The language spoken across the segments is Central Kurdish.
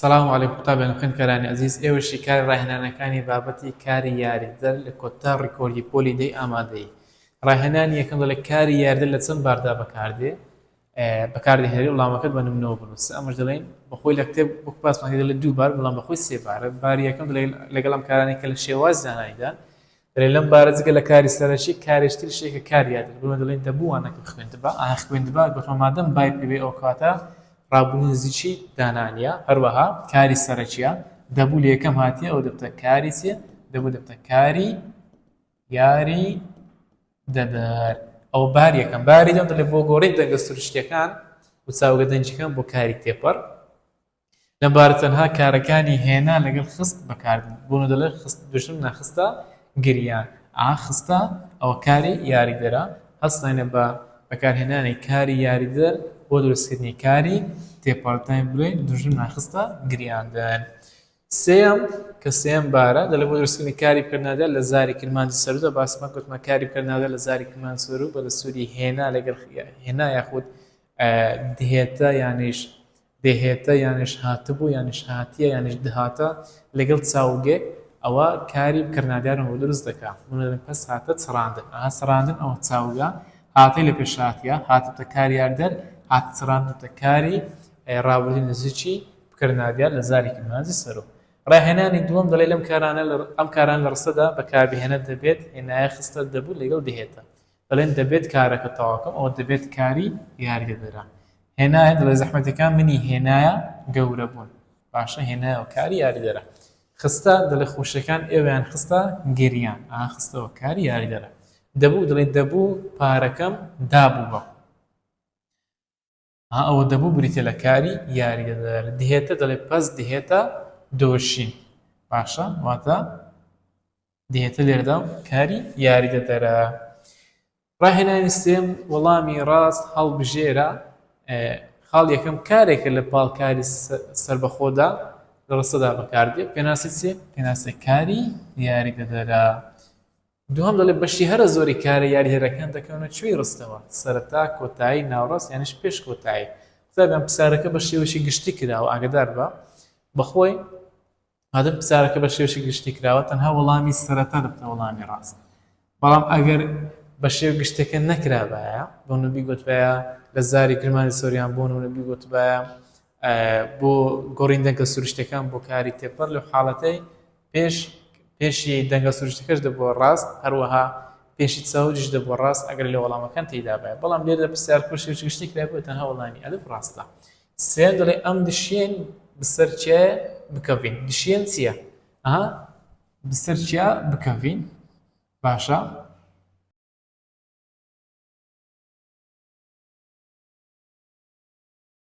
سلام علیکم قوتابیان و خوێندکارانی ئەزیز ئێوەی شیکاری ڕاهێنانەکانی بابەتی کاری یاریدەر لە کۆتا ڕیکۆردی پۆلی دەی ئامادەی ڕاهێنانی یەکەم دەڵێ کاری یاریدەر لە چەند باردا بەکاردێ بەکاردەهێنێ وڵامەکەت بە نمونەوە بنووسە ئەمەش دەڵێن بەخۆی لە کتێب وەک باسمان دەڵێ دوو بار بەڵام بەخۆی سێ بارە باری یەکەم دەڵێ لەگەڵ ئەم کارانەی کە لە شێواز زانایدا دەلێ لەم بارە جگە لە کاری سەرەکی کارێکی تریش هەیە کە کاری یادگە بۆیە دەلێن دەبوو وانەکەم خوێندبا ئاها خوێندبا گۆتمان مادەم بای پێ بێ ئەوکاتە رابوونی نزیکی دانا نیە هەروەها کاری سەرەکیە دەبوو لە یەکەم هاتیە ئەو دەبتە کاری چیە دەبوو دەبتە کاری یاری دەدەر ئەو بار یەکەم باری دەم دەلێ بۆ گۆڕی دەنگە سروشتیەکان وچاوگە دەنگیەکان بۆ کاری تێپەر لەم بارە تەنها کارەکانی هێنا لەگەل خست بەکاردێن بۆنۆ دەلێ خست دوژمن نە خستە گریا ئا خستە ئەوە کاری یاریدەرە هەستاینە بە بەکار هێنانی کاری یاریدەر بۆ دروست کردنی کاری تێپەرتاین بلێن دوژمن نە خستە گریاندن سێم کە سێم بارە دەلێ بۆ دروست کردنی کاری پرنادە لە زاری کرمانجی سەرودە باسمە گوتمە کاری پرنادە لە زاری کرمان سەرو بە دەسوری هێنا لەگەل هێنا یاخود دهێتە یانیش دهێتە یانیش هاتبوو یانیش هاتیە یانیش دهاتە لەگەڵ چاوگێ ئەوە کاری بکەرنادارن بۆ دروست دەکا منە دەڵێم پەس هاتە چڕاندن ئەها چڕاندن ئەوە چاوگە هاتەی لە پێش هاتیە هاتبتە کاریاردەر هات چڕاندبتە کاری ڕابردووی نزیکی بکەرنادیار لە زارێکی مانجی سەرۆ ڕاهێنانی دووەم دەڵێ لەم کارانە ئەم کاران لە ڕستەدا بەکاربهێنە دەبێت هێنایە خستە دەبوو لەگەڵ دهێتە دەڵێن دەبێت کارەکە تەواوکەم ئەوە دەبێت کاری یاریدەدەرە هێنایە دڵێ زەحمەتەکان منی هێنایە گەورە بوون باشە هێنایەوە کاری یاریدەرە خستە دڵێ خۆشەکان ئێوەیان خستە گریان ئاخستەوە کاری یاریدەرە دەبوو دڵێ دەبوو پارەکەم دابوو بە ها ئەوە دەبوو بریتیە لە کاری یاریدەدەر دهێتە دەڵێ پەس دهێتە دۆشین باشە واتە دهێتە لێرەدا کاری یاریدەدەرە ڕاهێنانی سێم وەڵامی ڕاست هەڵبژێرە خاڵ یەکەم کارێکە لە پاڵکاری سربەخۆدا لە ڕستەدا بەکاردێت پێناسی سێ پێناسە کاری یاریدەدەرە دوهەم دەڵێ بەشی هەرە زۆری کارە یاریهرەکان دەکەونە چوی رستەوە، سەرەتا، کۆتایی، ناوڕاست یانیش پێش کۆتایی. قوتابیان پسارەکە بە شێوەیەکی گشتی کراوە ئاگەدار بە بەخۆی مادەم پسارەکە بە شێوەیەکی گشتی کراوە تەنها وەڵامی سەرەتا دەبتە وەڵامی راست بەڵام ئەگەر بە شێو گشتەکە نەکرابایە بۆ نەبی گوتبایە لە زاری کرمانی سۆریان بۆن و نەبی گوتبایە بۆ گۆڕین دەنگە سروشتەکان بۆ کاری تێپەر لە حاڵەتەی پێش پێشی دەنگە سروشتەکەش دەبووە ڕاست هەروەها پێشی چاوریش دەبووە ڕاست ئەگەر لە وەڵامەکان تێدا بێت بەڵام لێرە پرسیار کوشی و گشتی کرای بۆ تەنها وەڵامی ئەلف ڕاستە سێن دەڵێ ئەم دشێن بسەر چێ بکەوین دشێن چییە؟ ئەها بسەر چیا بکەوین باشە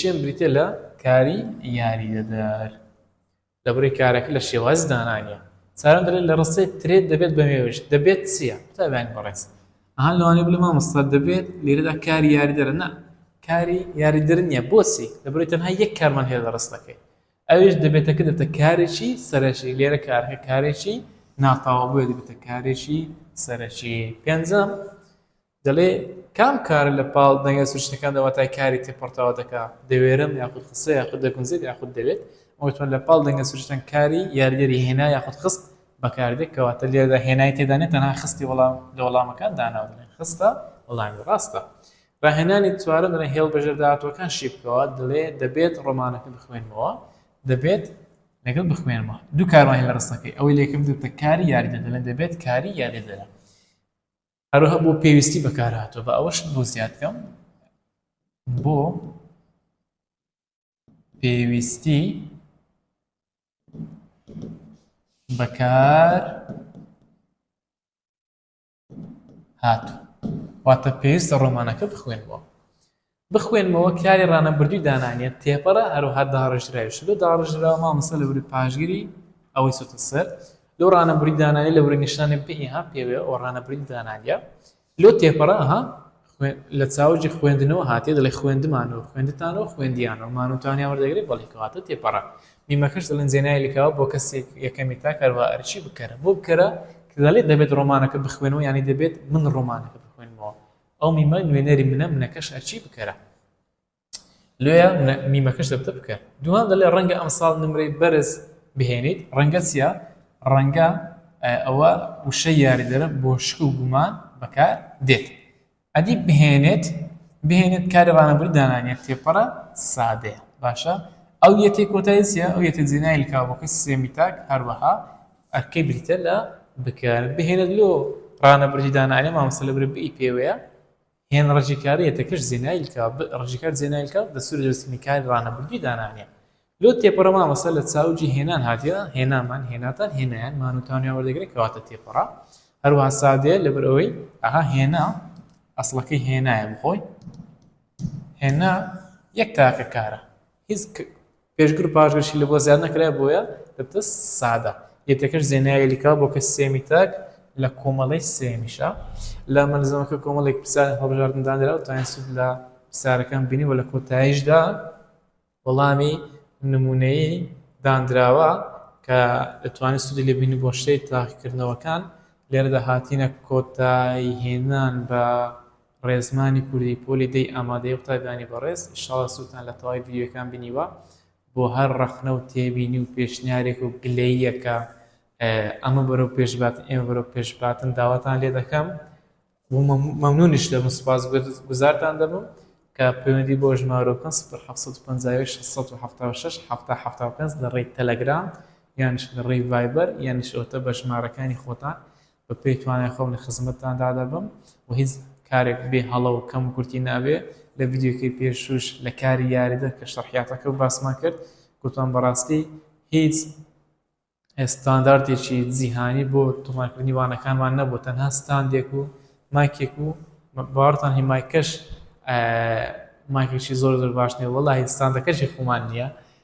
شێن بریتیە لە کاری یاریدەدەر لەبری کارەکە لە شێوازی دانانیە ساران دەلێت لە ڕستەی ترێت دەبێت بە مێوش دەبێت چییە قوتابیانی بەڕێز ئەها لەوانەیە بڵێ مامۆستا دەبێت لێرەدا کاری یاریدەرە نا کاری یاریدەر نییە بۆچی لەبری تەنها یەک کارمان هەیە لە ڕستەکەی ئەویش دەبێتەکە دەتە کارێکی سەرەکی لێرە کارەکە کارێکی ناتاوە بۆیە دەبێتە کارێکی سەرەکی پێنجەم دەڵێ، کام کارە لە پاڵ دەنگە سروشتەکاندا واتای کاری تێ پەڕتاوە دەکا، دەوێرم یاخود خسە یاخود دەگونجێت یاخود دەوێت، ئەمە وتمان لە پاڵ دەنگە سروشتەن کاری یاریدەری هێنا یاخود خست بەکار دێ کەواتە لێرەدا هێنای تێدا نیە تەنها خستی وەڵام لە وەڵامەکان داناوە دەڵێن خستە وەڵامی ڕاستە. ڕاهێنانی چوارەم دەڵێن هێڵ بەژێر داهاتووەکان شی بکەوە دەڵێ دەبێت ڕۆمانەکە بخوێنمەوە دەبێت لەگەڵ بخوێنمەوە دوو کارمان هێڵە ڕستەکەی ئەوەی لێکم دوتە کاری یاریدە دەڵێن دەبێت کاری یاریدەرە هەروەها بۆ پێویستی بەکارهاتوە بە ئەوەش بۆ زیاد بکەم بۆ پێویستی بەکار هاتو واتە پێویستە ڕۆمانەکە بخوێنەوە بخوێنمەوە کاری ڕانەبردووی دانانیە تێپەرە هەروەها داڕێژراویشە لەو داڕێژراوە مامۆستا لە وری پاشگری ئەوەی چۆتە سەر لەو ڕانەبری دانانی لە وری نیشتانی پێ ئیها پێوێ ئەو ڕانەبری دانانیە لۆ تێپەڕە ها لە چاوجی خوێندنەوە هااتێ دەڵی خوێندمانەوە خوێندتانەوە خوێندیانەوە مانوتانیا وەردەگری بەڵی کەواتە تێپەڕە میمەکەش دەڵێن زێنای لکاوە بۆ کەسێک یەکەمی تا کاروا ئەرچی بکەرە بۆ بکەرە کە دەڵێت دەبێت ڕۆمانەکە بخوێنەوە ینی دەبێت من ڕۆمانەکە بخوێنمەوە ئەو میمە نوێنەری منە منەکەش هەرچی بکەرە لۆیە میمەکەش دەبتە بکە دوان دەڵێ ڕەنگە ئەمساڵ نمرەی بەرز بهێنیت ڕەنگە چیە ڕەنگە ئەوە وشە یاریدەرە بۆ شک و گومان بەکار دێت ئەدی بهێنێت بهێنێت کاری ڕانەبووی دانانە تێپەڕە سادەیە باشە ئەو یەتی کۆتایسیە ئەو یەتە جێنایل کاوەکە سێمیتاک هەروەها ئەرکەی بریتە لە بکەر بهێنێت لۆ رانە بڕی دانائەرێ مامۆستا لە برێ بئ پێوەیە هێن رەجی کارە یەتەکەش زێنایل کا بئ رەجی کار زێنایل کا دەستوور لە دەستووری کار رانە بردوی دانانیە لۆ تێپەڕە مامۆستا لە چاو جی هێنان هاتیە هێنامان هێناتان هێنایان مان و تانویان وەردەگرێ کەواتە تێپەڕە هەروەها سادەیە لە بەر ئەوەی ئەها هێنا ئەسڵەکەی هێنایە بخۆی هێنا یەک تاکە کارە هیچ پێشگر و پاشگرشی لە بۆ زیاد نەکرایە بۆیە دەبتە سادە یەتەکەش زێنایە یەلیکا بۆ کە سێمی تاک لە کۆمەڵەی سێمیشە لە مەلزەمەکە کۆمەڵێک پرسیار هەڵبژاردن دانرا و تاین سود لە پرسیارەکان بینی و لە کۆتاییشدا وەڵامی نمونەیی دانراوە کە دەتوانێت سودی لێ بینی بۆ شتەی تاقیکردنەوەکان لێرەدا هاتینە کۆتایی هێنان بە ڕێزمانی کوردی پۆلی دەی ئامادەیە قوتابیانی بەڕێز ئیشاڵا سوودتان لە تەواوی ڤیدیۆیەکان بینیوە بۆ هەر ڕەخنە و تێبینی و پێشنیارێک و گلەییەک کە ئەمە بەرەو پێش باتن ئێمە بەرەو پێش باتن داواتان لێ دەکەم و مەمنونیش دەبم سوپاس گوزارتان دەبم کە پەیوەندی بۆ ژمارە بکەن 1950 لە ڕێی تەلەگرام یانش لە ڕێی ڤایبەر یانش ئەوتە بە ژمارەکانی خۆتان بە پێی توانای خۆم لە خزمەتتاندا دەبم و هیچ کارێک بێ هەڵە و کەم و کورتی نابێ، لە ڤیدیۆکەی پێشووش لە کاری یاریدەر کە شەرحیاتەکە و باسمان کرد گوتمان بەڕاستی هیچ ستاندارتێکی جیهانی بۆ تۆمارکردنی وانەکانمان نەبوو تەنها ستاندێک و مایکێک و باوەڕتان هی مایکەش مایکێکی زۆر زۆر باش نیە وەڵاهی ستاندەکەشی خۆمان نیە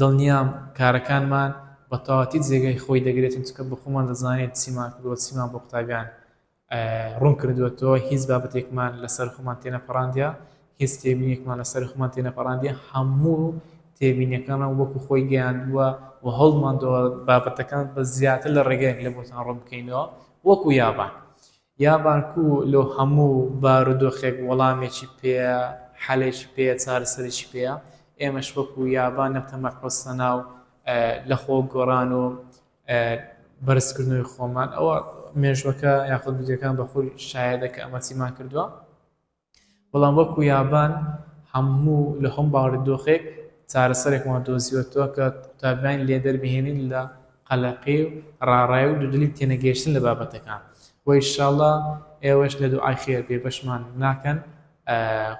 دڵنیام کارەکانمان بە تەواوەتی جێگای خۆی دەگرێت، چونکە بە خۆمان دەزانین چیمان کردووە، چیمان بۆ قوتابیان ڕوون کردووەتەوە، هیچ بابەتێکمان لەسەر خۆمان تێنەپەڕاندیە، هیچ تێبینیەکمان لەسەر خۆمان تێنەپەڕاندیە، هەموو تێبینیەکانمان وەکو خۆی گەیاندووە و هەوڵمانداوە بابەتەکان بە زیاتر لە ڕێگایەک لێ بۆتان ڕوون بکەینەوە وەکو یابان. یا بانکو لۆ هەموو بارودۆخێک وەڵامێکی پێیە حەلێکی پێیە چارەسەرێکی پێیە ئێمەش وەکو یابان لەم تەمە قۆستەنا و لە خۆ گۆڕان و بەرز کردنەوەی خۆمان ئەوە مێژوەکە یاخود ڤیدیۆکان بە خۆی شایەدە کە ئەمە چیمان کردوە. بەڵام وەکو یابان هەموو لە هەموو بارودۆخێک چارەسەرێکمان دۆزیوەتەوە کە قوتابیانی لێ دەربهێنین لە قەلەقی و ڕاڕای و دوودڵی تێنەگەیشتن لە بابەتەکان و ان شاء اللە ئێوەش لە دوعای خێر بێبەشمان ناکەن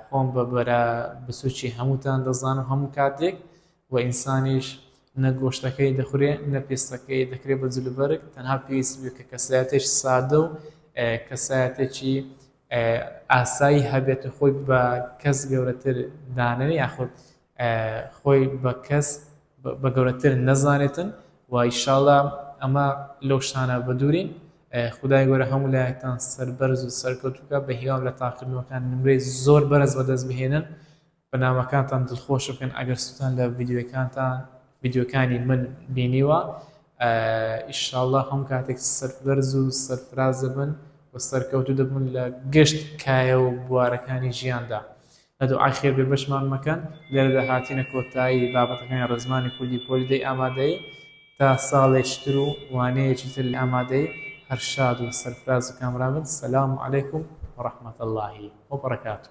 خۆم بە برا بچوکی هەمووتان دەزانم هەموو کاتێک و ئینسانیش نە گۆشتەکەی دەخورێ نە پێستەکەی دەکرێ بە جلوبەرگ تەنها پێویست بێ کە کەسایەتێکی سادە و کەسایەتێکی ئاسایی هەبێت و خۆی بە کەس گەورەتر دانێ یاخود خۆی بە کەس بە گەورەتر نەزانێتن و ئیشاڵە ئەمە لەو شتانە بە دوورین خدای گەورە هەموو لایەکتان سەربەرز و سەرکەوتوکە بە هیوام لە تاقلنەوەکان نمرەی زۆر بەرز بەدەست بهێنن بەنامەکانتان دڵخۆش بکەن ئەگەر سوتان لە ڤیدیۆکانتان ڤیدیۆکانی من بینیوە ئیشاڵا هەم کاتێک سەربەرز و سەرفراز دەبن و سەرکەوتو دەبن لە گشت کایە و بوارەکانی ژیاندا لە دوعای خێر بێ بەشمان مەکەن لێرەدا هاتینە کۆتایی بابەتەکانی ڕزمانی کوردی پۆلی دەی ئامادەی تا ساڵێکتر و وانەیەکی تر لە ئامادەی هەر شاد و سەرفراز و کامرابن سەلام علیکم و ڕەحمەت اللهی و بەڕکاتو